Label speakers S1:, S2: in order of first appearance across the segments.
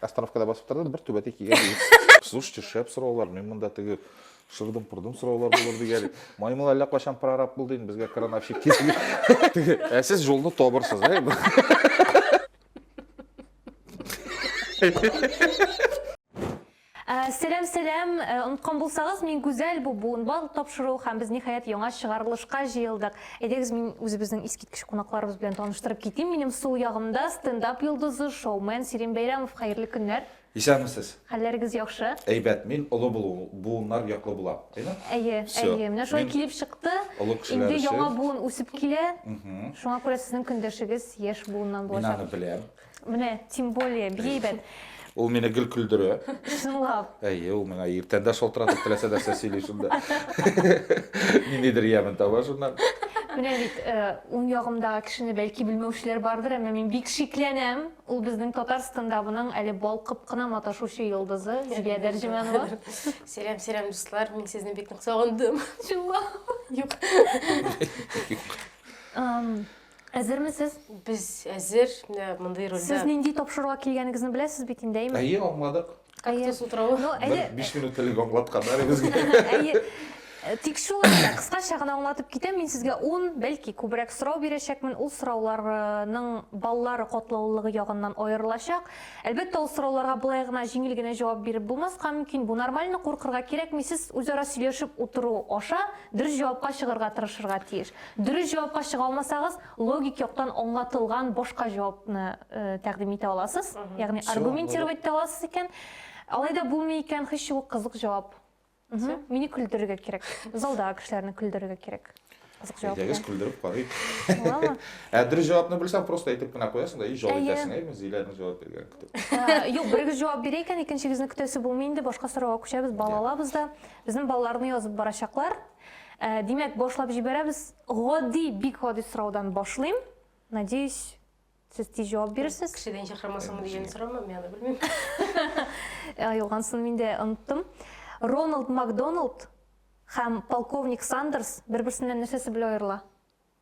S1: остановкада басып торды бер түбәтәй кигән егет слушайте шәп сораулар мен монда теге шырдым пырдым сораулар булыр дигән маймыл әллә кайчан прораб булды инде безгә крановщик кирәк ә сез жолны табырсыз ә Э, сәлам, сәлам. Э, Оныткан булсагыз, мин Гүзәл Бубун. Бал тапшыру һәм без ниһаять яңа чыгарылышка җыелдык. Әйдәгез, мин үзебезнең искиткеч кунакларыбыз белән таныштырып китим. Минем сул ягымда стендап йолдызы, шоумен Сирин Бәйрәмов. Хәерле көннәр. Исәнмесез. Хәлләрегез яхшы? Әйбәт. Мин олы буыннар яклы булам. Әйме? Әйе, әйе. Менә шулай килеп чыкты. Инде яңа буын үсеп килә. Шуңа күрә сезнең көндәшегез яшь буыннан булачак. Мин аны беләм. Менә, тем более, бик әйбәт. Ул мине гел көлдерә. Чынлап. Әйе, ул миңа иртән дә шалтыратып теләсә нәрсә сөйли шунда. Ниндидер ямен таба шуннан. Менә бит э, уң ягымдагы кешене бәлки белмәүчеләр бардыр, әмма мин бик шикләнәм. Ул безнең татар стендабының әле балкып кына маташучы йолдызы Зилия Дәрҗеманова. Сәлам, сәлам, дуслар. Мин сезне бик нык сагындым. Чынлап. Юк. Юк. Әзерме сез? Без әзер, менә мондый рольдә. Сез нинди тапшыруга килгәнегезне беләсез бит инде, әйме? Әйе, аңладык. Кактус утравы. Ну, әйе. Бер биш минут элек аңлатканнар безгә. Әйе. Тик шулай да, кыскача гына аңлатып китәм, мин сезгә ун, бәлки, күбрәк сорау бирәчәкмен, ул сорауларның баллары катлаулылыгы ягыннан аерылачак. Әлбәттә, ул сорауларга болай гына, җиңел генә җавап биреп булмаска мөмкин, бу нормально, куркырга кирәкми, сез үзара сөйләшеп утыру аша дөрес җавапка чыгарга тырышырга тиеш. Дөрес җавапка чыга алмасагыз, логик яктан аңлатылган башка җавапны тәкъдим итә аласыз. Ягъни аргументировать итә аласыз икән. Алай да булмый икән, һич юк кызык җавап. Мине көлдерергә кирәк. Залда кешеләрне көлдерергә кирәк. Кызык җавап. Әйдәгез көлдереп карыйк. Буламы? Ә дөрес җавапны белсәң, просто әйтеп кенә куясың да, и җавап итәсең, әйме, Зиләнең җавап биргәнен көтеп. Юк, берегез җавап бирә икән, икенчегезне көтәсе булмый инде, башка сорауга күчәбез, бала алабыз да. Безнең балаларны язып барачаклар. Ә, димәк, башлап җибәрәбез. Гади, бик гади сораудан башлыйм. Надеюсь, сез тиз җавап бирерсез. Кешедән чакырмасыңмы дигән сорамы, мин аны белмим. Юлгансын мин дә оныттым. Роналд Макдоналд һәм полковник Сандерс бер-берсеннән нәрсәсе белән аерыла?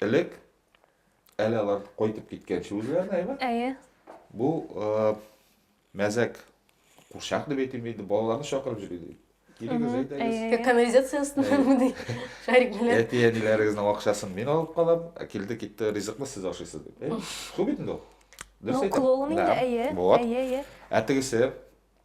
S1: Элек, әле алар кайтып киткәнче үзләренә, әйбә? Әйе. Бу э, мәзәк курчак дип әйтим иде, балаларны чакырып йөри ди. Килегез, әйдәгез. Канализация астыннан мыни шарик белән. Әти әниләрегезнең акчасын мин алып калам, ә килде китте ризыкны сез ашыйсыз дип. Шул бит инде ул. Ну, клоун инде, әйе. Әйе, әйе. Ә тегесе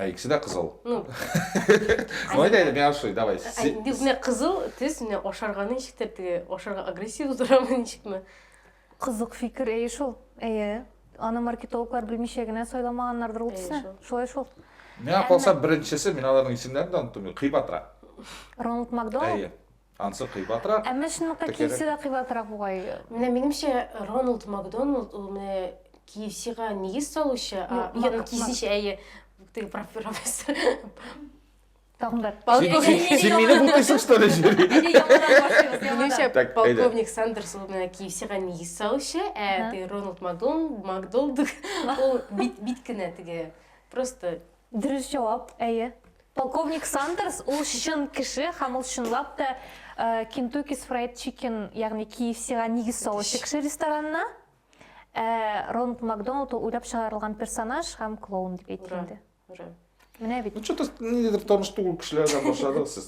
S1: Ә икесе дә кызыл. Ну. Моны да миңа ошый, давай. Менә кызыл төс, менә ашарга ничек тәртиге? Ашарга агрессия тудырамы ничекме? Кызык фикер, әйе шул. Әйе. Аны маркетологлар белмичә генә сайламаганнардыр ул төсне. Шулай шул. Миңа калса беренчесе, мин аларның исемнәрен дә оныттым, Кыйбатра. Роналд Макдоналд? Әйе. Ансы кыйбатрак. Әмма чынлыкка KFC да кыйбатрак бугай. Менә минемчә, Роналд Макдоналд ул менә KFC-га нигез салучы, а ягъни кисенчә әйе, теге профессор. Тагын бер. Син мине бутыйсың что ли? Минемчә, полковник Сандерс ул менә KFC-га нигез салучы, ә теге Роналд Макдоналд ул бит бит кенә теге просто Дөрес җавап, әйе. Полковник Сандерс ул чын кеше һәм ул чынлап та Кентукис Фрайд Чикен, ягъни KFC-га нигез салучы кеше ресторанына. Ә Ронд Макдоналд ул уйлап чыгарылган персонаж һәм клоун дип әйтелде. Менә бит. Ну что-то нидер таныш түгел кешеләрдән башладыгыз сез.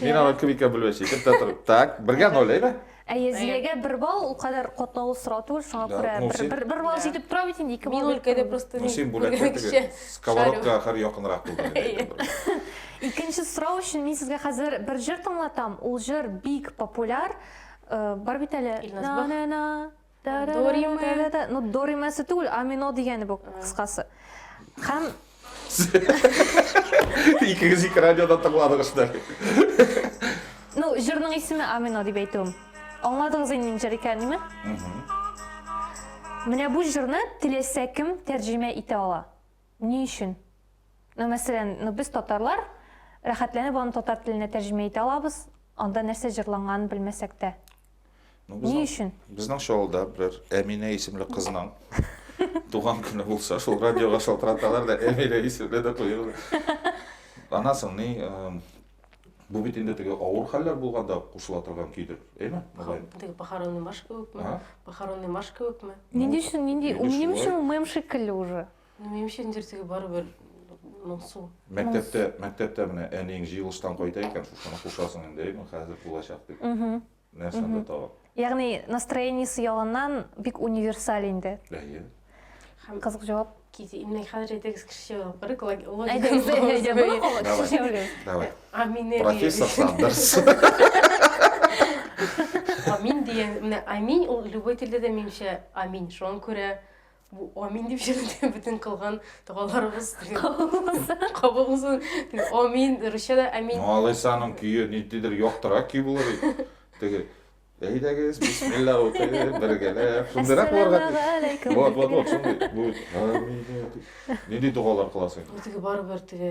S1: Мин аны квикка бүлмәсе итеп тә торып. Так, бергә ноль, әйбә? Әйе, Зиләгә бер балл, ул кадәр катлаулы сорау түгел, шуңа Да, күрә ну, бер- син- бер бер балл Да. җитеп тора бит инде, ике Мин балл. өлкәдә просто Ну, мин син бүләккә күргән теге кеше. сковородка ахыр якынрак булды. инде, әйтеп бер. Икенче сорау өчен мин сезгә хәзер бер җыр тыңлатам. Ул җыр бик популяр. Э, Бар бит әле. Илназ Бах. На-на-на, Дориме. Ну, доримасы түгел, амино дигәне бу кыскасы. Һәм Икегез ике радиода тыңладыгыз да. Ну, җырның исеме амино дип әйтүем. Аңладыгыз инде нинди җыр икәнен, Менә бу җырны теләсә кем тәрҗемә итә ала. Ни өчен? Ну, мәсәлән, ну, без татарлар, рәхәтләнеп аны татар теленә тәрҗемә итә алабыз, анда нәрсә җырланганын белмәсәк тә. Ну, Ни безнең, өчен? безнең шоуда берәр Әминә исемле кызның туган көне булса, шул радиога шалтыраталар да Әминә исемле дә куюлар. Анасың ни, э, Бу бит инде теге авыр хәлләр булганда кушыла торган көйдер, әйме? Теге похоронный марш кебекме? Похоронный марш кебекме? Нинди өчен, нинди, ул минем өчен ул мем шикелле уже. Ну, минем өчен инде теге барыбер моңсу. Мәктәптә, мәктәптә менә әниең җыелыштан кайта икән, шушыны кушасың инде, әйме, хәзер булачак дип. нәрсәне mm -hmm. табып ягъни настроениесе ягыннан бик универсаль инде әйе һәм кызык җавап міне хәзер әйдәгез кеше җавап бирик давай аминер профессор сандерс амин деген менә амин ул любой телдә дә менимчә амин шуңа күрә Бу амин дип җырлый бөтен кылган догаларыбыз кабул булсын. Амин, русча да амин. Малайсаның көе ниндидер яктырак көй булыр иде. Теге Әйдәгез, бисмилла укыйбыз, бергәләп. Шундыйрак булырга тиеш. Вот, вот, вот, шундый. Бу амин. Нинди догалар кыласың? Бу теге барыбер теге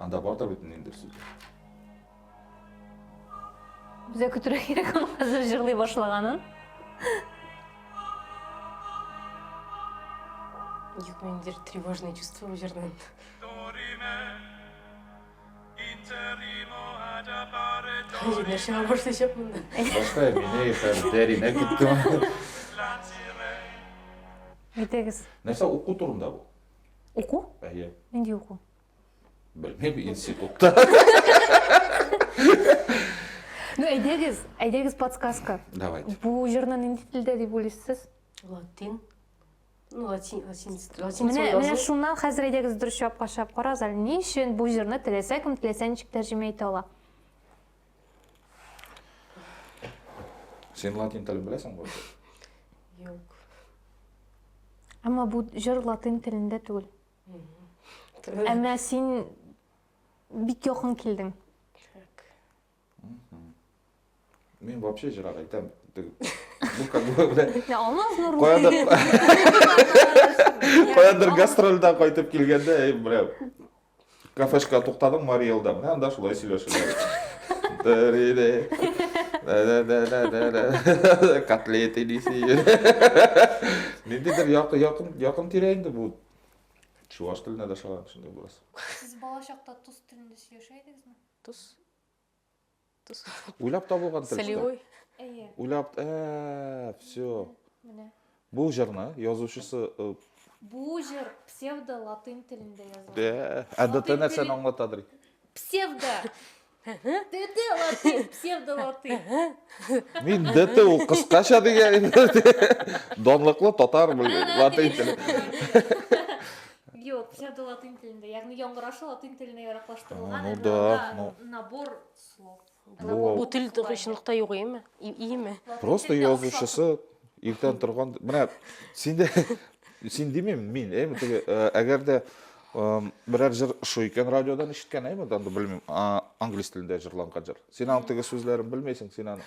S1: Анда бар да бит инде сүз. Безгә көтергә кирәк ул хәзер җырлый башлаганын. Юк, мендер тревожные чувства бу җырдан. Хәзер нәрсә башлачак монда? Башка мине хәзер дәринә киттем. Әйтегез. Нәрсә уку турында бу? Уку? Әйе. Нинди уку? Белмим, институтта. Ну, әйдәгез, әйдәгез подсказка. Давайте. Бу җырны нинди телдә дип уйлыйсыз? Латин. Ну, латин, латин, латин. Менә, менә шуннан хәзер әйдәгез дөрес җавапка чыгып карагыз әле. Ни өчен бу җырны теләсә кем теләсә ничек тәрҗемә итә ала? Син латин телен беләсең бу? Юк. Әмма бу җыр латин телендә түгел. Әмма син бик якын килдең. Так. Мин вообще җырак әйтәм. Бу как бы белән. Я алмаз на руки. Каяда? Каяда гастрольдә кайтып килгәндә, бля. Кафешка туктадым Марий Элда. Менә анда шулай сөйләшәләр. Котлет идисе. Ниндидер якын якын якын тирә инде бу. Чуваш теленә дә шагам шундый булас. Сез бала чакта тус телендә сөйләшә идегезме? Тус. Уйлап табылган тел. Солевой. Әйе. Уйлап, ә, все. Менә. Бу җырны язучысы э, Бу җыр псевдо латин телендә язылган. Э, ә ДТ нәрсәне аңлата дри? Псевдо. ДТ латин, псевдо латин. Мин ДТ ул кыскача дигән. Данлыклы татар латин теле. Юк, псевдо латин телендә, ягъни яңгырашы латин теленә яраклаштырылган ну, да, анда ну. набор слов. Бу, бу тел чынлыкта юк иеме? Иеме? Просто язучысы иртән торган, менә синдә син димим, мин, әйме теге, әгәр дә берәр җыр шул икән радиодан ишеткән, әйме, анда белмим, англис телендә җырланган җыр. Син аның теге сүзләрен белмәйсең, син аны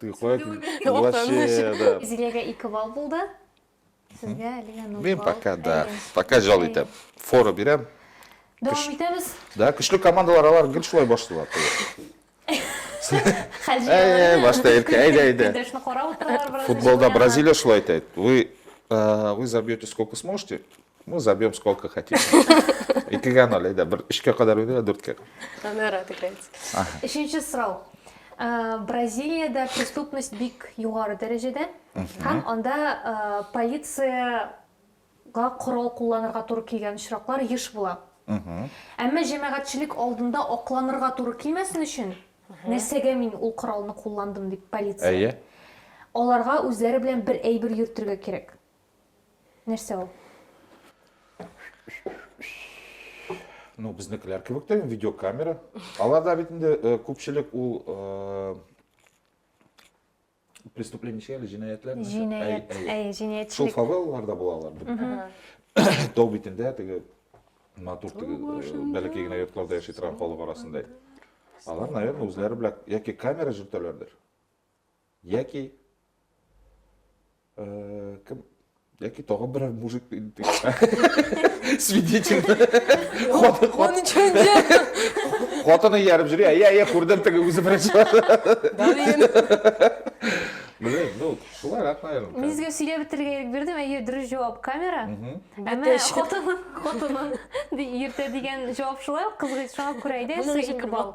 S1: Ты куәт. Вообще, да. Зилеге ике бал булды. Сезгә әлегә ноль Мен пока, да. Пока жал итәм. Фора бирәм. Дәвам итәбез. Да, көчле командалар алар гел шулай башлыйлар. Хәҗи. Башта иркә, әйдә, әйдә. Футболда Бразилия шулай итә. Вы вы забьете сколько сможете, Мы забьем сколько хотим. Икеге анолей, да, бер өчкә кадәр уйный, а дүрткә. Она рад играть. Өченче сорау. Э, Бразилиядә преступность бик югары дәрәҗәдә һәм анда э, полиция га корал кулланырга туры килгән очраклар еш була. Әмма җәмәгатьчелек алдында акланырга туры килмәсен өчен, нәрсәгә мин ул коралны кулландым дип полиция. Әйе. Аларга үзләре белән бер әйбер йөртергә кирәк. Нәрсә ул? Ну, безнекеләр кебек тә видеокамера. Аларда бит инде э, күпчелек ул э, преступление әле җинаятьләр. Җинаять, әй, җинаятьчелек. Шул фавелларда булалар бит. Тау битендә теге матур теге э, бәләкәй генә йортларда яши торган халык арасында. Алар, наверное, үзләре белән яки камера җөртәләрдер. Яки э, кем яки тагын берәр мужик свидетель хатыны ярып жүре я я күрдем теге үзе беренче Блин, ну, шулай рак, наверное. Мин сезгә сөйләп бетерергә ирек бирдем, әйе, дөрес җавап камера. Әмма хатыны, хатыны, иртә дигән җавап шулай, кызгый шуңа күрә әйдә, ике балл.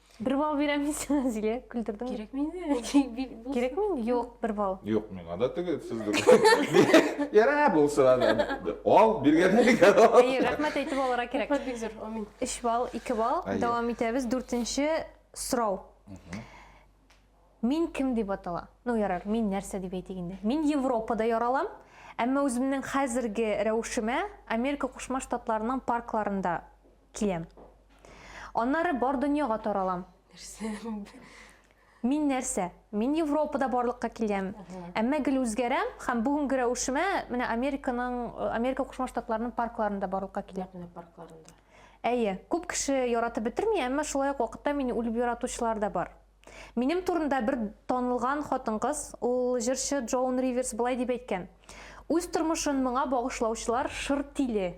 S1: Бер бал бирәм мин сиңа, Зилә, көлдердең. Кирәк мени? Кирәк мени? Юк, бер бал. Юк, миңа да теге сезгә. Ярә булсын аны. Ал, биргәндә биргән. Әй, рәхмәт әйтеп алырга кирәк. Рәхмәт бик зур. Амин. 3 бал, 2 бал. Дәвам итәбез. Дүртенче сорау. Мин кем дип атала? Ну, ярар, мин нәрсә дип әйтик инде. Мин Европада яралам, әмма үземнең хәзерге рәвешемә Америка Кушма Штатларының паркларында Киләм. Аннары бар дөньяга таралам. Мин нәрсә? Мин Европада барлыкка киләм. Әмма гел үзгәрәм һәм бүгенге рәвешемә менә Американың, Америка Кушма Штатларының паркларында барлыкка киләм. Менә паркларында. Әйе, күп кеше яратып бетерми, әмма шулай ук вакытта мине үлеп яратучылар да бар. Минем турында бер танылган хатын-кыз, ул җырчы Джоун Риверс былай дип әйткән. Үз тормышын моңа багышлаучылар шыр тиле.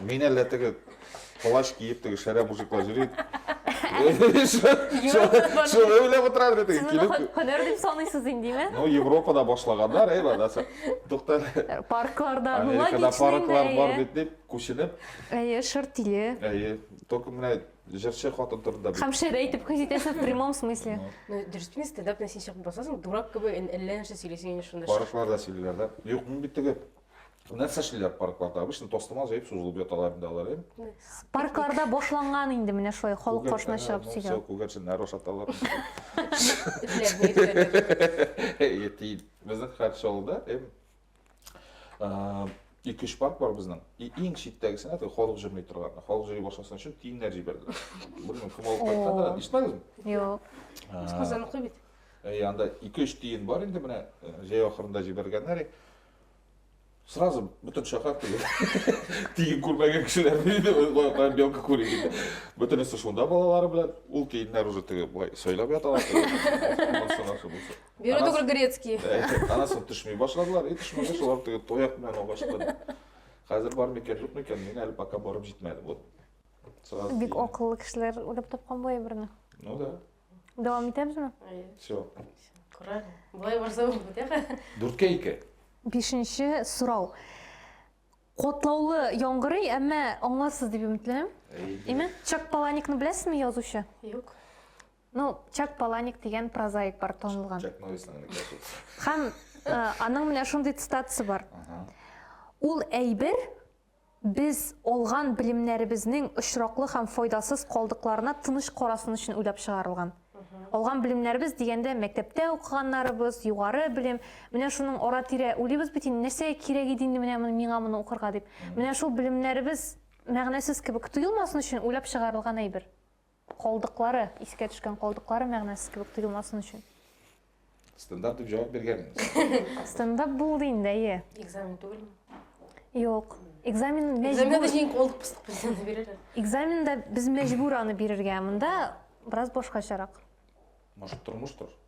S1: Мин әллә теге плащ киеп теге шәрә мужиклар йөри. Шулай уйлап утырам да теге килеп. Һөнәр дип саныйсыз инде, димә? Ну, Европада башлаганнар, әй, бадасы. Тукта. Паркларда, ну, логично. Америкада парклар бар бит дип, күченеп. Әйе, шырт тиле. Әйе. Только менә җырчы хатын турында бит. Һәм шәр әйтеп хис итәсең в прямом смысле. Ну, дөрес тимә, стендап белән син чыгып басасың, дурак кебек әллә нәрсә сөйлисең инде шунда. Паркларда сөйлиләр да. Юк, мин бит теге Нәрсә эшлиләр паркларда? Обычно тастымал җәеп сузылып яталар инде алар, э? Паркларда башланган инде менә шулай халык каршына чыгып ну, сөйләү. Күгәрченнәр ашаталар. Ятим. Безнең Хәрчалда эм ике-өч парк бар безнең. И иң читтәгесенә теге халык җырмый торган. Халык җырый башласын өчен тиеннәр җибәрделәр. Белмим, кем алып кайткан, ишетмәдеңме? Юк. Казаныкы бит. Э, анда ике-өч тиен бар инде менә э, җәй ахырында җибәргәннәр. Сразу бүтін шәһәр тиген күрмәгән кешеләр диде, каян белка күрә диде. Бөтенесе шунда балалары белән, ул тиеннәр уже теге былай сайлап яталар. Бері түгел грецкий. Анасын төшмей башладылар, и төшмәгәч алар теге тояк белән алга чыкты. Хәзер бар микән, юк микән, мин әле пока барып җитмәдем. Вот. Сразу. Бик акыллы кешеләр уйлап тапкан бу әйберне. Ну да. Дәвам итәбезме? Все. Күрәр. Болай барса ул бетәр. Дүрткә ике. Бишенче сорау. Котлаулы яңгырый, әмма аңласыз дип өметләнәм. Име? Чак Паланикны беләсезме язучы? Юк. Ну, Чак Паланик дигән прозаик бар танылган. Чак Норрисның Һәм аның менә шундый цитатасы бар. Ул әйбер Без алган белемнәребезнең очраклы һәм файдасыз калдыкларына тыныч карасын өчен уйлап чыгарылган. Алган белемнәребез дигәндә, мәктәптә укыганнарыбыз, югары белем, менә шуның ара-тирә уйлыйбыз бит инде, нәрсәгә кирәк иде инде менә миңа моны укырга дип. Менә шул белемнәребез мәгънәсез кебек тоелмасын өчен уйлап чыгарылган әйбер. Калдыклары, искә төшкән калдыклары мәгънәсез кебек тоелмасын өчен. Стендап дип җавап биргән. Стендап булды инде, әйе. Экзамен түгелме? Юк. Экзамен мәҗбүр. Экзаменда җиң колдык пыстык белән бирәләр. Экзаменда без мәҗбүр аны бирергә. Монда бераз башкачарак. Может, тормыштыр?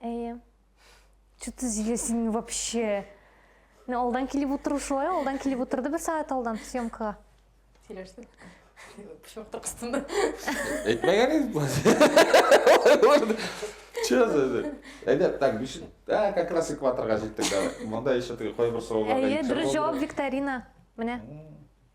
S1: Әйе. Что ты зилесин вообще? Мен алдан килеп отыру шулай, алдан килеп отырды бер сәгать алдан съемкага. Сөйләштем. Пешмәк тыркыстында. Әйтмәгән идек бу. Че за это? Әйдә, так, биш. Да, как раз экваторга җиттек. Монда еще теге кайбер сорауларга. Әйе, дөрес җавап викторина. Менә.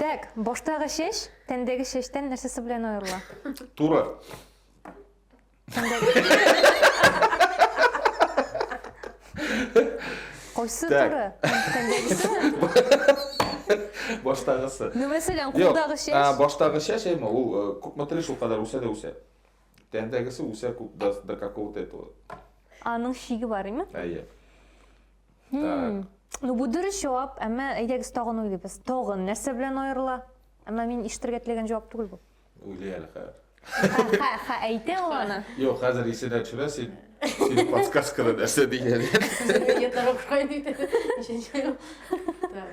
S1: Тәк, баштагы чәч тәндәге чәчтән нәрсәсе белән аерыла? Туры. Кайсы Так. туры? Тәндәгесе? Баштагысы. Ну, мәсәлән, Юк, кулдагы а, чәч. баштагы чәч әйме, ул э, күпме тырыш, ул кадәр үсә дә үсә. Тәндәгесе үсә күп до, до какого-то этого. Аның шиге бар, име? Әйе. Хм. Так. Ну, бу дөрес җавап, әмма әйдәгез тагын уйлыйбыз. Тагын нәрсә белән аерыла? Әмма мин ишетергә теләгән җавап түгел бу. Уйлый әле хәзер. Ха, ха, әйтә ул аны. Юк, хәзер исенә төшерә син. Син подсказкада нәрсә дигән. Сез дә торып кайт диде. Так.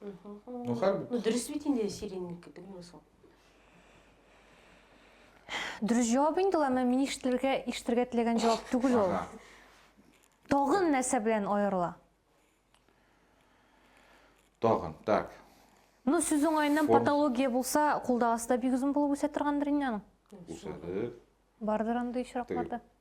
S1: Ну, хәл бит. Ну, дөрес бит инде сиреньники, белмим соң. Дөрес җавап инде ул, әмма мин ишетергә ишетергә теләгән җавап түгел ул. Ага. Тагын нәрсә белән аерыла? Тагын, так. Ну, сүз уңаеннан Форм- патология булса, кулдагысы да бик озын булып үсә торгандыр инде аның. Үсәдек. Бардыр андый очракларда.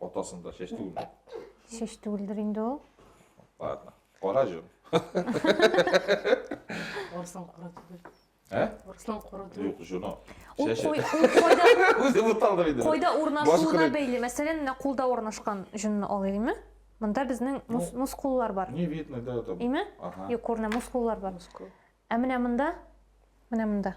S1: Атасын да чәч түгелме? Чәч түгелдер инде ул. Ладно. Кара җон. Арыслан кара түгел. Ә? Арыслан кара түгел. Юк, җоны. Ул Чәче. кой, ул койда, Үзе буталды инде. койда Башы урнашуына кырык. бәйле. Мәсәлән, менә кулда урнашкан җонны алыйкмы? Монда безнең мус, Ну. мускуллар бар. Не видно, да, там. Име? Ага. Юк, күренә, мускуллар бар. Мускул. Ә менә монда, менә монда.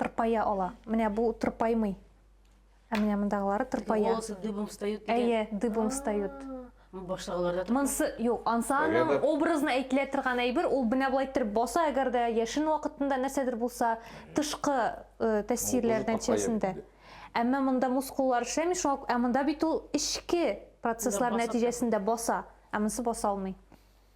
S1: тырпая ала. Менә бу тырпаймый. Ә менә мондагылары тырпая. Волосы дыбом встают. Әйе, дыбом встают. Баштагыларда тырпая. Монсы юк, ансаның образына әйтелә торган әйбер, ул менә болай торып баса, әгәр дә яшен вакытында нәрсәдер булса, тышкы э, тәэсирләр нәтиҗәсендә. Әмма монда мускуллар эшләми, шуңа ә монда бит ул эчке процесслар нәтиҗәсендә баса, ә монсы баса алмый.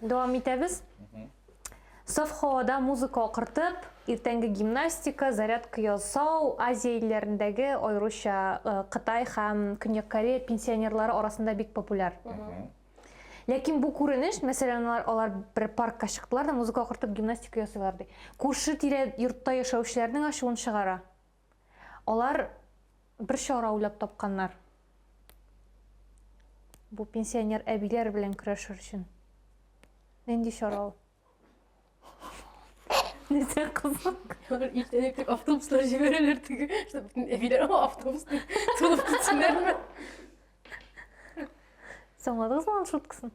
S1: Дәвам итәбез. Саф һавада музыка акыртып, иртәнге гимнастика, зарядка ясау Азия илләрендәге, аеруча э, Кытай һәм Көньяк Корея пенсионерлары арасында бик популяр. Ләкин бу күренеш, мәсәлән, алар, алар бер паркка чыктылар да музыка акыртып гимнастика ясыйлар ди. Күрше тирә йортта яшәүчеләрнең ачуын чыгара. Алар бер чара уйлап тапканнар. Бу пенсионер әбиләр белән көрәшер өчен. Нинди чара ул? Нәрсә кызык? Алар иртәнәк тик автобуслар җибәрәләр теге, чтобы бөтен әбиләр аңа автобус дип тулып китсеннәрме? Соңладыгызмы аның шуткасын?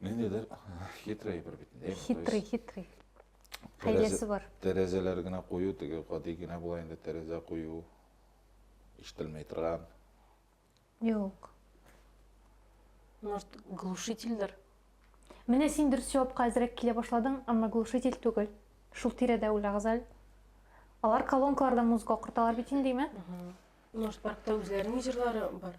S1: Ниндидер хитрый әйбер бит инде. Хитрый, хитрый. Хәйләсе бар. Тәрәзәләр генә кую, теге гади генә була инде тәрәзә кую. Ишетелмәй торган. Юк. Может, глушительдер? Менә син дөрес җавапка әзрәк килә башладың, әмма глушитель түгел. Шул тирәдә үлә Газаль. Алар колонкаларда музыка корталар бит инде, димә. Может, паркта үзләренең җырлары бар?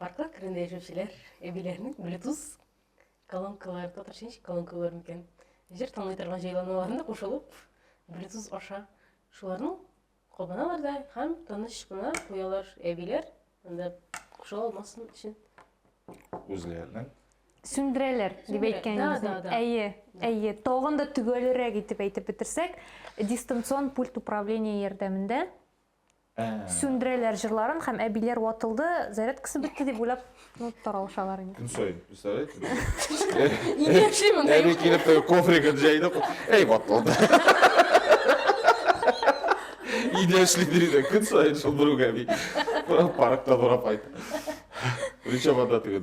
S1: Парклар түрендә яшәүчеләр әбиләренең Bluetooth колонкалары, татарча ничек колонкалар микән? Җыр тыңлый торган җайланмаларына кушылып, Bluetooth аша шуларның кабыналар да һәм тыныч кына куялар әбиләр, анда кушыла алмасын өчен. Үзләренең сүндерәләр дип әйткәнегезне. Әйе, әйе. Тагын да төгәлрәк итеп әйтеп бетерсәк, дистанцион пульт управления ярдәмендә Сүндерәләр җырларын һәм әбиләр ватылды, зарядкасы бетте дип уйлап таралышалар инде. Көн саен, представляете? Инде яши монда. Әби килеп кофригын җәйде. Әй, ватылды. Иде яшли диде, көн саен шул бер үк әби. Парктан урап кайтты. Ричабада теге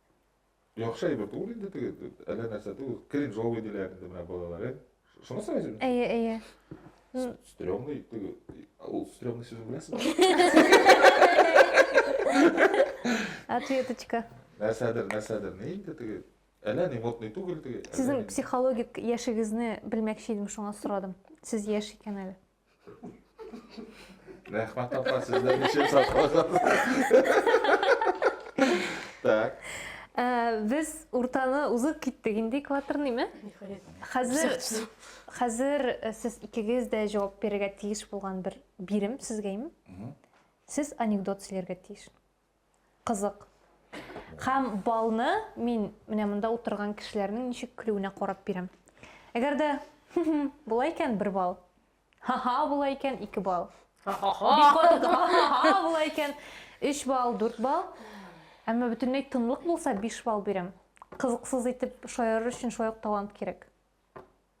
S1: Яхшы әйбер түгел инде теге, әллә нәрсә түгел. Кринжовый диләр инде менә балалар, ә? Шуны сорайсың? Әйе, әйе. Стрёмный теге, ул стрёмный сүзен беләсең? Ответочка. Нәрсәдер, нәрсәдер, ни инде теге? Әллә ни модный түгел теге. Сезнең психологик яшегезне белмәкче идем, шуңа сорадым. Сез яшь икән әле. Рәхмәт апа, сез дә ничек сакласагыз. Так. Э, без уртаны узып киттек инде экваторныймы? Хәзер хәзер э, сез икегез дә җавап бирергә тиеш булган бер бирем сезгә Сез анекдот сөйләргә тиеш. Кызык. Һәм балны мин менә монда утырган кешеләрнең ничек көлүенә карап бирәм. Әгәр дә хм-хм була икән, бер балл. Ха-ха була икән, ике балл. Бик катык ха-ха-ха була икән, өч балл, дүрт балл. Әмма бөтенләй тынлык булса, биш балл бирәм. Кызыксыз итеп шаярыр өчен шулай ук талант кирәк.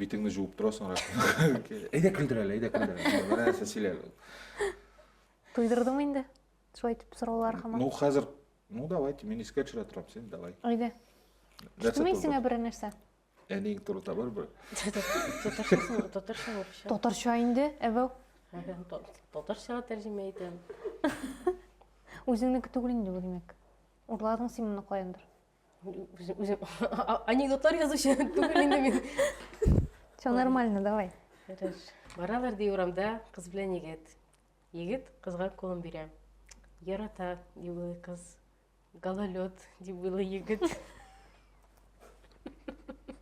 S1: битеңне жуып тора соңрак әйдә көлдер әле әйдә көлдер әле мына нәрсә сөйлә туйдырдыңмы инде шулай итеп сораулар хаман ну хәзер ну давайте мин искә төшерә торам сен давай әйдә төштеме исеңә бер нәрсә әниең турында бар бер татарча татарча инде әбәү татарчага тәрҗемә итәм үзеңнеке түгел инде бу димәк урладың син моны каяндыр Үзем, үзем анекдотлар язучы түгел инде мин. Все нормально, давай. Баралар ди урамда кыз белән егет. Егет кызга кулын бирә. Ярата, ди уйлый кыз. Гололед, ди уйлый егет.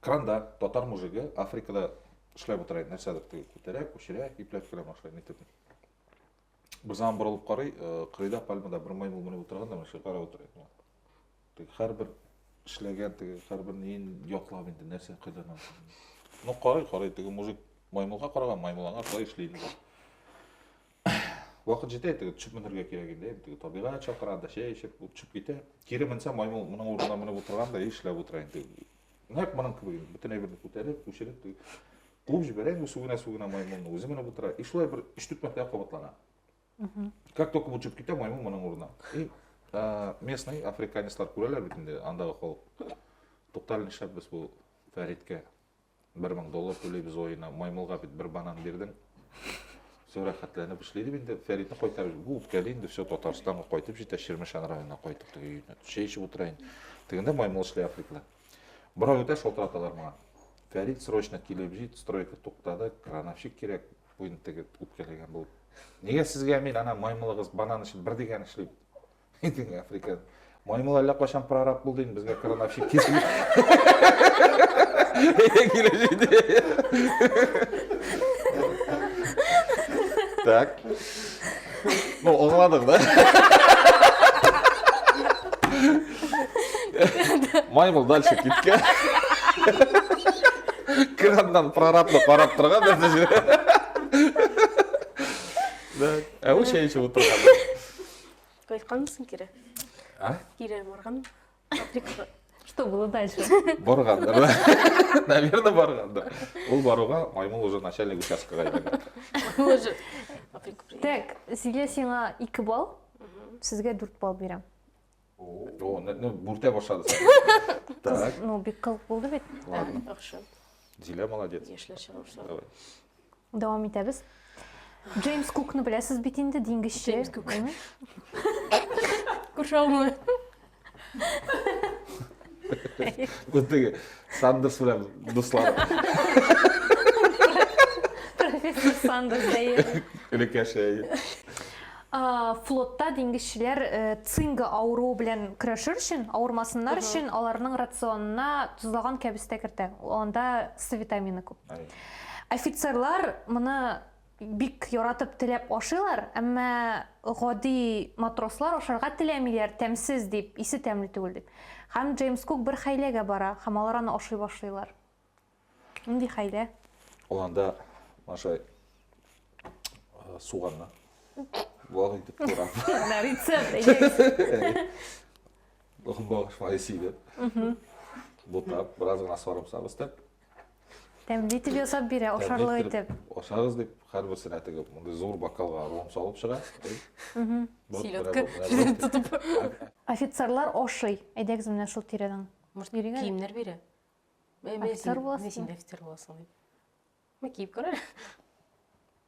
S1: Кранда татар мужигы Африкада эшләп утыра иде, нәрсәдер теге күтәрә, күчерә, ипләп керә машина итеп. Бер заман борылып карый, э, кырыйда пальмада бер маймыл менеп утырган да, машина карап утыра иде. Теге һәрбер эшләгән, теге һәрбер неен ятлап инде, нәрсә кайдан алды. Ну карый, карый, теге мужик маймылга караган, маймыл аңа карый эшли инде. Вакыт җитә, теге төшеп менергә кирәк инде. Теге табигать чакыра да, чәй эчеп, ул төшеп китә. Кире менсә, маймыл моның урынына менеп утырган да, эшләп утыра инде. Нәкъ моның кебек инде. Бөтен әйберне күтәреп, күчереп, теге куып җибәрә инде сүгенә-сүгенә маймылны. Үзе менеп утыра. И шулай бер 3-4 мәртәбә кабатлана. Как только бу төшеп китә, маймыл моның урынына. И а, местный африканецлар күрәләр бит инде андагы халык. Туктале нишләп без бу Фәридкә бер мең доллар түләйбез аена маймылга бит бер банан бирдең все рәхәтләнеп эшли дип инде фәритне кайтарып бу үткәли инде все татарстанга кайтып җитә чирмешән районына кайтып теге өенә чәй эчеп утыра инде тегендә маймыл эшли африклы бер ай үтә шалтыраталар моңа фәрит срочно килеп җит стройка туктады крановщик кирәк бу инде теге үпкәләгән булып нигә сезгә мин ана маймылыгыз банан өчен бер дигән эшли Әйтең, Африка. Маймыл әллә кайчан прораб булды инде, безгә крановщик киселеп. Так. Ну, аңладык, да? Маймыл дальше киткән. Краннан прорабны карап торган нәрсә. Да. Ә ул чәй эчеп утырган. Кайтканмысың кире? А? Кире барган. Африкага. Что было дальше? Баргандыр. Наверное, баргандыр. Ул баруга маймыл уже начальник участкага әйләнгән. Уже. Африка приехал. Так, Зилә сиңа 2 балл, сезгә 4 балл бирәм. О, не- не, бүртә башлады. Так, Ну, бик кылык булды бит. ладно. Яхшы. Зилә молодец. Яшьләр чыга башлады. Давай. Дәвам итәбез. Джеймс Кукны беләсез бит инде, диңгезче. Джеймс Кук. Куршаумы? Үзтеге Сандерс белән дуслар. Профессор Сандерс дәйер. Өлкәшә. Флотта диңгезчеләр э, цинга авыруы белән көрәшер өчен, авырмасыннар өчен аларның рационына тозлаган кәбестә кертә. Анда С витамины күп. Офицерлар моны бик яратып теләп ашыйлар, әмма гади матрослар ашарга теләмиләр, тәмсез дип, исе тәмле түгел дип. Һәм Джеймс Кук бер хәйләгә бара, һәм алар аны ашый башлыйлар. Нинди хәйлә? Ул анда Маша суганны вак итеп турап. На рецепт әйдәгез. Охбагыш файсиде. Бутап, бераз гына сарымсак өстәп, Тәмле итеп ясап бирә, ашарлык итеп. Ашагыз дип, һәрберсенә теге мондый зур бокалга ром салып чыга. Селедка тотып. Офицерлар ашый. Әйдәгез менә шул тирәдән. Может, киемнәр бирә? Офицер буласың. Син офицер буласың дип. Мә киеп күрә.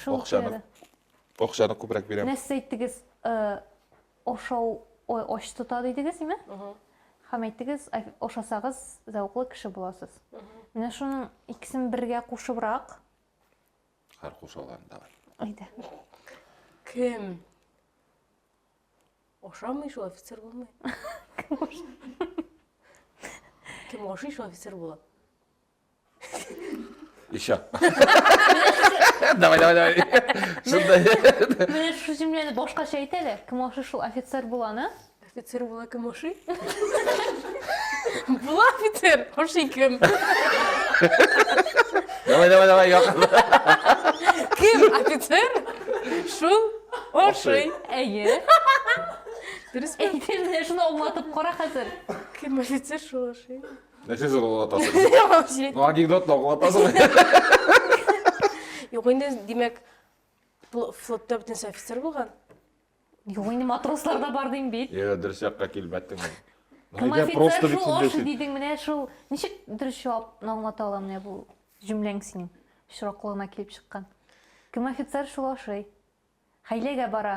S1: Шул Акчаны, акчаны күбрәк бирәм. Менә сез әйттегез, ашау ач тота дидегез, име? Һәм әйттегез, ашасагыз, зәвыклы кеше буласыз. Менә шуның икесен бергә кушыбрак. Хәр кушалар давай. Әйдә. Кем? Ашамый шул офицер булмый. Кем ашый шул офицер була? Еще. Давай, давай, давай. Менә шушы җөмләне башкача әйт әле. Кем ашый шул офицер буланы? Офицер була кем ашый? Була офицер, ашый кем? Давай, давай, давай, yok. Кем офицер? Шул ашый. Әйе. Дөрес. Әйтелде, шуны аңлатып кара хәзер. Кем офицер шул ашый? Нәрсә зарлатасың? Җирәк. Ну, анекдот лаулатасың. Юк инде, димәк, пл- флотта бөтенесе офицер булган. Юк инде матрослар да бар дим бит. Йә, дөрес якка килбәттең. Кем Әйдә, просто офицер бит шул аш сүндерсен. дидең менә шул. Ничек дөрес җавап аңлата алам менә бу җөмләң синең очраклыгына килеп чыккан. Кем офицер шул ашый. Хәйләгә бара.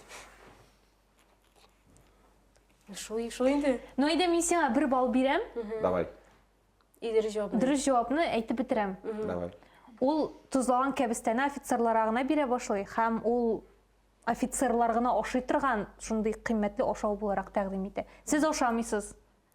S1: Шул, шул инде. Ну, әйдә мин сиңа бер балл бирәм. Давай. И дөрес җавапны. Дөрес җавапны әйтеп бетерәм. Давай. Ул тозлаган кәбестәне офицерларга гына бирә башлый һәм ул офицерлар гына ашый торган шундый кыйммәтле ашау буларак тәкъдим итә. Сез ашамыйсыз.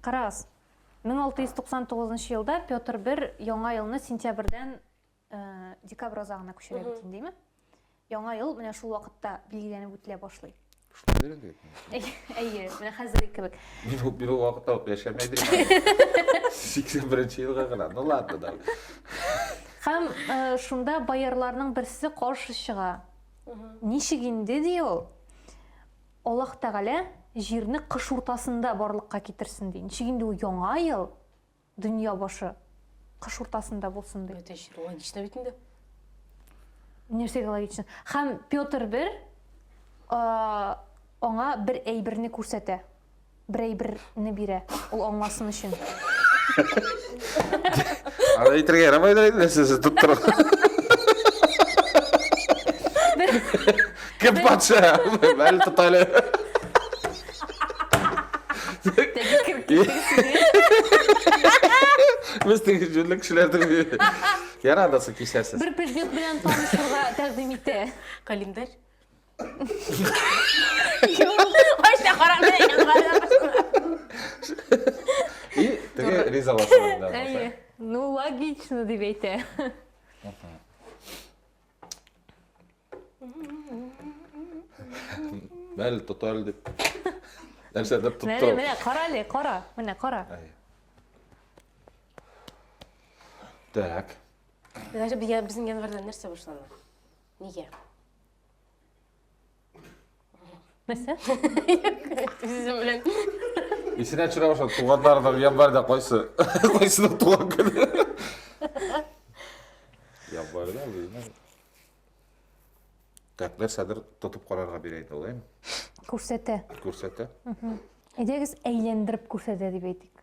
S1: Карагыз, 1699 елда Петр I яңа елны сентябрьдән декабрь азагына күчерә бит инде, дими? Яңа ел менә шул вакытта билгеләнеп үтелә башлый. Шулай инде. Әйе, менә хәзерге кебек. Мин ул бирү вакытта ук яшәмәй дим. 81 елга гына. Ну ладно, да. Хәм шунда боярларның берсе каршы чыга. Ничек инде ди ул? Аллаһ Тәгалә җирне кыш уртасында барлыкка китерсен ди. Ничек инде ул яңа ел, дөнья башы кыш уртасында булсын ди? Бөтен җир логично бит инде. Нәрсәгә логично? Хәм Петр бер аңа бер әйберне күрсәтә. берәй берне бирә, ул аңласын өчен. Аны әйтергә ярамайдыр инде, сез тоттыр. Кем патша? Бәл тотале. Без теге җүнле кешеләрдер. Ярадасы кисәсез. Бер предмет белән танышырга тәкъдим итә. Календарь. Кайсы караганда И теге ризалашуында. Әйе. Ну, логично дип әйтә. Мәл тотал дип. Нәрсә дип тотал. Менә, менә кара әле, кара. Менә кара. Әйе. Так. Даже безнең январьда нәрсә башлана? Нигә? Нәрсә? Сүзем белән. Исенә төшерә башлады, туганнарының январьда кайсы? Кайсының туган көне? Январьда үзенең Как нәрсәдер тотып карарга бирә инде ул, әйме? Күрсәтә. Күрсәтә. Әйдәгез әйләндереп күрсәтә дип әйтик.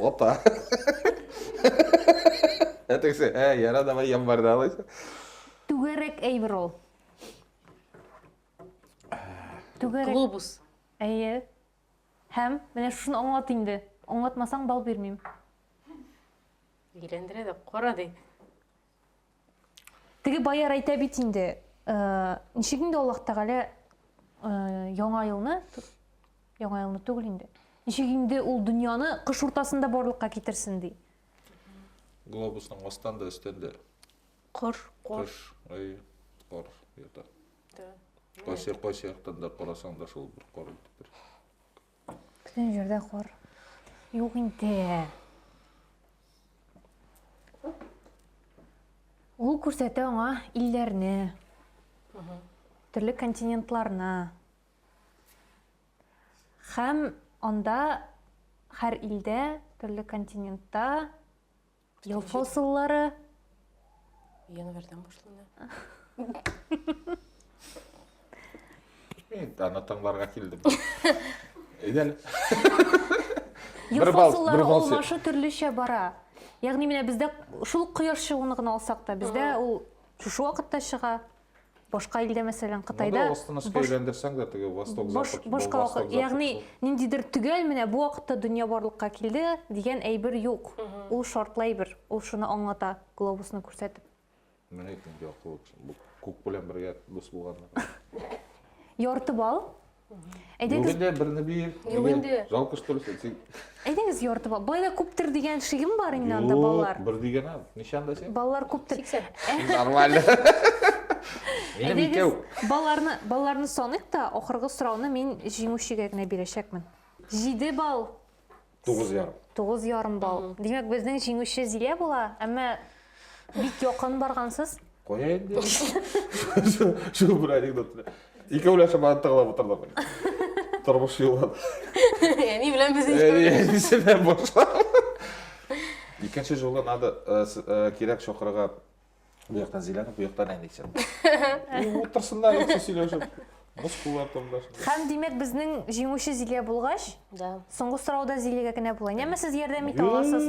S1: Опа. Ә тегесе, ә, яра, давай январьда алайсың. Түгәрәк әйбер ул. Түгәрәк. Глобус. Әйе. Һәм менә шуны аңлат инде. Аңлатмасаң бал бирмим. Өйләндерә дә, кара ди. Теге баяр әйтә бит инде, э, ничек инде Аллаһ Тәгалә э, яңа елны, яңа елны түгел инде. Ничек инде ул дөньяны кыш уртасында барлыкка китерсен ди. Глобусның астан да, өстән дә. Кыр, кор. Кыш, ай, кор ята. Кайсы, кайсы яктан да карасаң да шул бер кор итеп бер. Бөтен җирдә кар. Юк инде. Ул күрсәтә аңа илләрне, төрле континентларны. Хәм анда хәр илдә, төрле континентта Ел фасыллары. Январьдан башлана. Энд аны тыңларга килдем. Идел. Ел Бер бал- фасыллары бер бал сер. алмашы төрлечә бара. Ягъни менә бездә шул кояш чыгуны гына алсак та, бездә ул шушы вакытта чыга. башка илдә мәсәлән кытайда Монда останочка әйләндерсәң дә теге восток запад башка вакыт ягъни ниндидер төгәл менә бу вакытта дөнья барлыкка килде дигән әйбер юк ул шартлы әйбер ул шуны аңлата глобусны күрсәтеп менә әйтем яклы күк белән бергә дус булганнар ярты балл Әйдәгез. Югыйдә берне бир. Югыйдә. Жалкыш төресе. Син... Әйдәгез яртыба. Байлар күптер дигән шигем бар инде анда балалар. Бер дигән ам. Ничәндә син? Балалар күптер. 80. Нормально. Минем икәү. Балаларны, балаларны саныйк та, ахыргы сорауны мин җиңүчегә генә бирәчәкмен. 7 балл. Тугыз ярым. Тугыз ярым балл. Димәк, безнең җиңүче Зилә була, әмма бик якын баргансыз. Кая инде? Шул бер анекдот. Икәүләшеп бара тыңлап утырдык. Тормыш юлы. Әни белән без икәүләшеп. Икенче жолы надо э, э, кирәк чокырга Bu yoqdan Zilani, bu yoqdan Әнисен. Утырсыннар икесе сөйләшеп. Мускуллар томдаш. Хәм димәк безнең җиңүче Зилия булгач, да. Соңгы сорауда Зилиягә генә була. Яме сез ярдәм итә аласыз?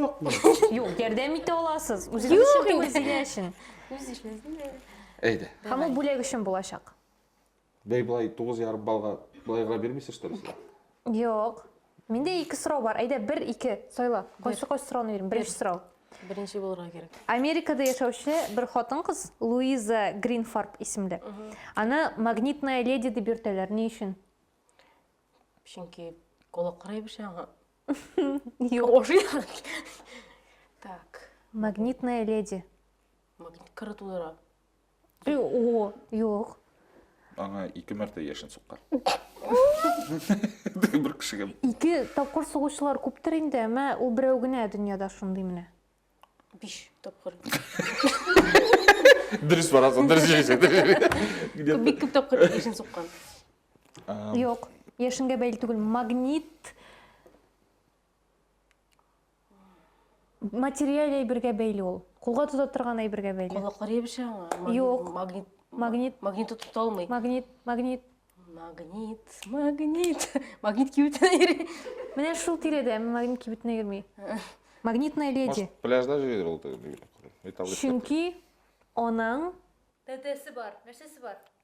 S1: Юк, ярдәм итә аласыз. Үзегез өчен түгел, Зилия өчен. Үз эшегезне. Әйдә. Һәм ул бүләк өчен булачак. Бәй, болай тугыз ярым балга болай гына бирмисез, что ли, сез? Юк. Миндә ике сорау бар. Әйдә, бер, ике сайла. Кайсы кайсы сорауны бирим? Беренче сорау. Беренче булырга кирәк. Америкада яшәүче бер хатын-кыз Луиза Гринфарб исемле. Аны магнитная леди дип йөртәләр. Ни өчен? Чөнки колаклары ябыша аңа. Юк. Ошый. Так. Магнитная леди. Магнит кыры тудыра. Э, О, юк. Аңа ике мәртә яшен суккан. Бер кешегә. Ике тапкыр сугучылар күптер инде, әмма ул берәү генә дөньяда шундый менә. Биш тапкыр. Дөрес барасың, дөрес җыйсың. Где-то. Бик күп тапкыр яшен суккан. А, Юк. Яшенгә бәйле түгел, магнит материаль әйбергә бәйле ул. Кулга тота торган әйбергә бәйле. Колаклар ябыша аңа. Юк. Магнит. Магнит. Магнит тота алмый. Магнит, магнит. Магнит, магнит. Магнит кибетенә йөри. Менә шул тирәдә магнит кибетенә йөрми. Магнитная леди. Пляжда йөридер ул. Чөнки аның тәтәсе бар. Нәрсәсе бар?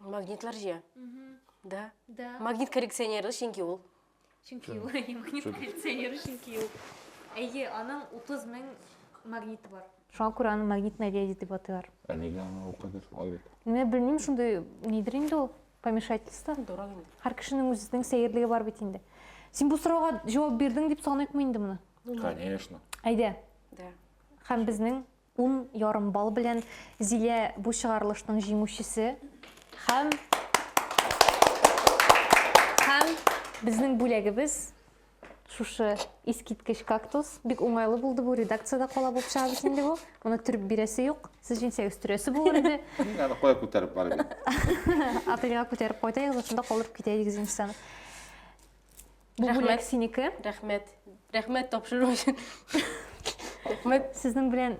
S1: Магнитлар җыя. Да. Да. Магнит коррекционеры, чөнки ул. Чөнки ул магнит коррекционеры, чөнки ул. Әйе, аның 30 мең магниты бар. Шуңа күрә аны магнитная леди дип атыйлар. Ә нигә аны ул кадәр шулай бит? Менә белмим, шундый нидер инде ул помешательство. Дорог инде. Һәр кешенең үзенең сәерлеге бар бит инде. Син бу сорауга җавап бирдең дип саныйкмы инде моны? Конечно. Әйдә. Да. Һәм безнең Ун ярым балл белән Зилә бу чыгарылышның җиңүчесе һәм һәм безнең бүләгебез шушы искиткеч кактус. Бик уңайлы булды бу, редакциядә кала булып чыгабыз инде бу. Моны төреп бирәсе юк. Сез җинсәк өстерәсе булыр иде. Мин аны кая күтәреп барып. Апельга күтәреп кайтыгыз, шунда калдырып китә идегез инде Бу Рәхмәт. бүләк синеке. Рәхмәт. Рәхмәт тапшыру өчен. Рәхмәт Сезнең белән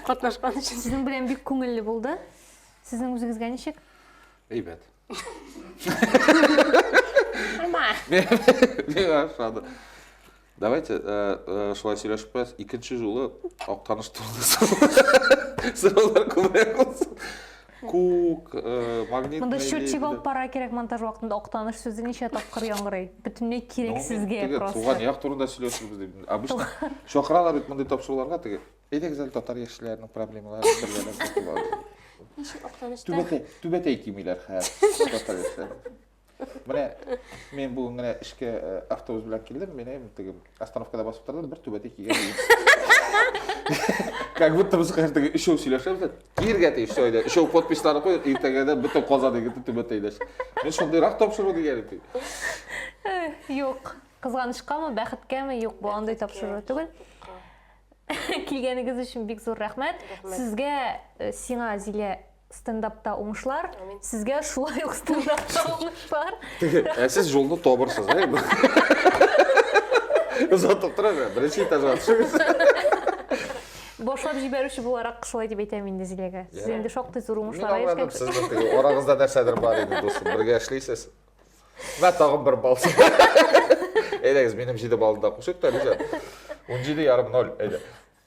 S1: катнашкан өчен. сезнең белән бик күңелле булды. Сезнең үзегезгә ничек? Әйбәт. Нормаль. Миңа ошады. Давайте э, э, шулай сөйләшеп куябыз. Икенче жолы Актаныш турында сораулар күбрәк булсын. Күк, э, магнит Монда счетчик алып бара кирәк монтаж вакытында актаныш сүзе ничә тапкыр яңгырый. Бөтенләй кирәк сезгә просто. Туган як турында сөйләшербез дип. Обычно чакыралар бит мондый тапшыруларга теге. Әйдәгез әле татар яшьләренең проблемаларын бергәләп Түбәтәй, түбәтәй кимиләр хәзер. Менә мен бүген генә эшкә э, автобус белән килдем, менә теге остановкада басып тордым, бер түбәтәй кигән. Как будто без хәзер өчәү сөйләшәбез. Киргә тиеш все әйдә. Өчәү подписларын куй, иртәгәдә бөтен казан егете түбәтәйдәш. Мин шундыйрак тапшыру дигән идем. Юк. Кызганычкамы, бәхеткәме, юк, бу андый тапшыру түгел. Килгәнегез өчен бик зур рәхмәт. Сезгә, э, сиңа, Зилә, стендапта уңышлар сезгә шулай ук стендапта уңышлар ә сез жолны табырсыз ә озатып тора бер беренче этажга төшегез башлап җибәрүче буларак шулай дип әйтәм инде зиләгә сез инде шактый зур уңышларга ирешкән сез арагызда нәрсәдер бар иде дусым бергә эшлисез вә тагын бер балл әйдәгез минем җиде баллы да кушыйк та риза он җиде ярым ноль әйдә